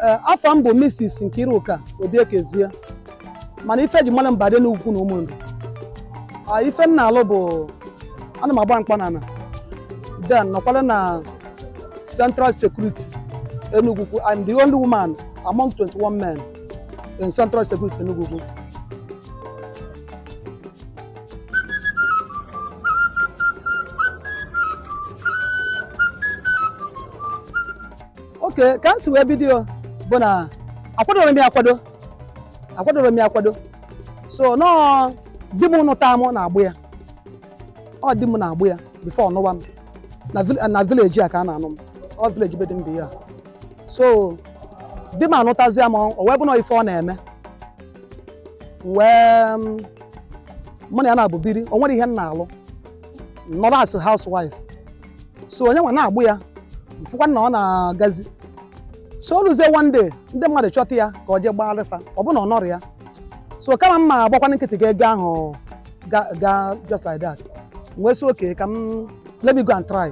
Eh, afa m bụ Mrs. Nkiruka Obiekezie mana ife e ji mara m bụ Ada Enugwu-Ukwu na Ụmụnri ah, ife m na-alụ bụ ana m agba mkpọnana then nọkwara na Central Security Enugwu-Ukwu and the only woman among 21 men in Central Security Enugwu-Ukwu okay ka m si wee bido bụ na akwadorọ m ya akwado akwadorọ m ya akwado so na ọ di m nụta m na-agba ya ọ di m na-agba ya before ọ nụba m na vil- na village a ka a na-anụ m ọ village be di m bụ ya so di m anụtazịa m o wee bụ na ife ọ na-eme M wee m, mụ na ya naabọ biri o nwerọ ihe m na-alụ nọrọ as housewife so onye nwa na-agba ya m fụkwa na ọ na-agazi so o luzie one day ndị mmadụ chọta ya ka ọ jee gbaara fa ọ bụ na ọ nọrọ ya so kama m ma agbakwana nkịtị ka ego ahụ ga ga just like that m wee sị okay ka m let me go and try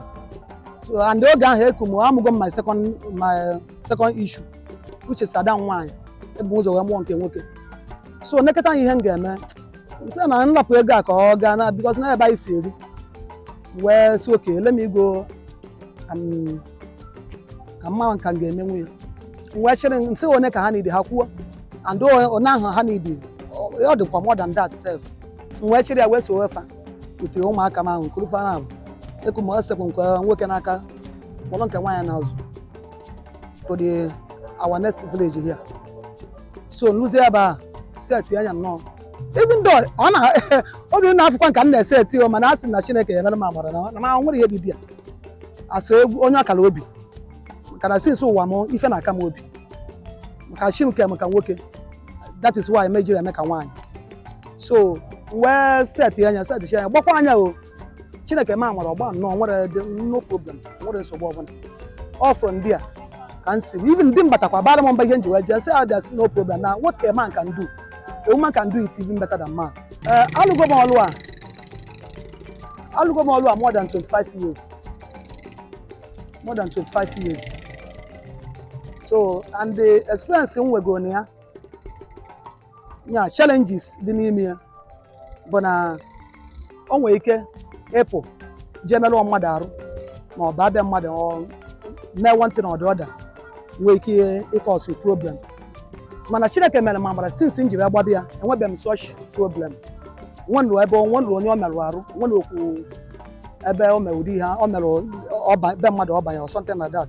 so and oge ahụ eku m amụgo m my second my second issue which is ada m nwaanyị ebu m ụzọ wee mụọ nke nwoke so nekọta ihe m ga-eme nte na m rapụ ego a ka ọ gaa na because na ebe anyị si eri wee sị okay let me go um, ka m ma ka m ga-emenwu ya M wee chere nsị one ka ha nidi ha kwuo and o- one ahụ ha nidi ọ ọ dịkwa more than that self m wee chịrị ya wee so wefa ute ụmụaka m ahụ kuru fa naabọ eku ma esekwu nke nwoke n'aka kpọrọ nke nwaanyị n'azụ to the our next village here so m luzie ebe ahụ setịa nya nnọọ even though ọ na obi na-afụkwa m ka m na-eseti o mana a sị na chineke ya emere m amara na na ma nwere ihe dị bịa asọ egwu onye ọ kara obi maka na since ụwa m ife na-aka m obi maka chi nke maka nwoke that is why m ejirọ eme ka nwaanyị so wee setịa nya setịa nya gbakwaa nya o chineke mee m amara ọ gbaa nnọọ o nwerọdị no problem o nwerọ nsogbu ọbụla ọ from there ka m si even di m batakwa bara m mba ihe m ji wee jee sị ya there's no problem na what a man can do a woman can do it even better than man ee alụgo m ọlụ a alụgo m ọlụ a more than 25 years more than 25 years so and the experience m nwegoro na ya yeah challenges dị n'ime ya bụ na o nwere ike ịpụ jee merụọ mmadụ arụ ma ọ bụ baa be mmadụ mee one thing or the other nwee ike ịcause problem mana chineke mere m amara since m ji bịa gbaba ya enwebeghị m such problem nwenụ ebe nwenụ onye ọ merụ arụ nwenụ okwu ebe o mere ụdị ihe o mere be mmadụ ọ banye or something like that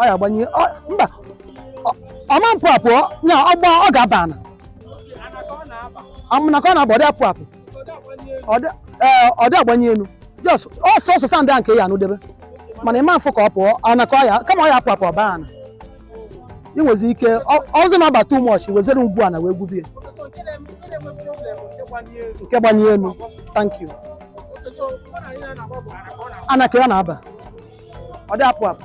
ọ ya-agbanye ọ- mba ọ- ọ ma-apụ apụ ọ- nya ọ gba ọ ga-aba ana ana ka ọ na-aba ọ dị apụ apụ Ọ dị- ee, ọ dị agbanye elu just ọsọ ọsọ sandị a nke ya anụdebe mana ị ma-afụ ka ọ pụọ ana ka ọ ya kama ọ ya-apụ apụ ọ baa ana ị nwezi ike ọ- ọzọ na-aba too much wezere ngwu ana wee gwubie nke gbanye elu thank you ana ka ya na-aba ọ dị apụ apụ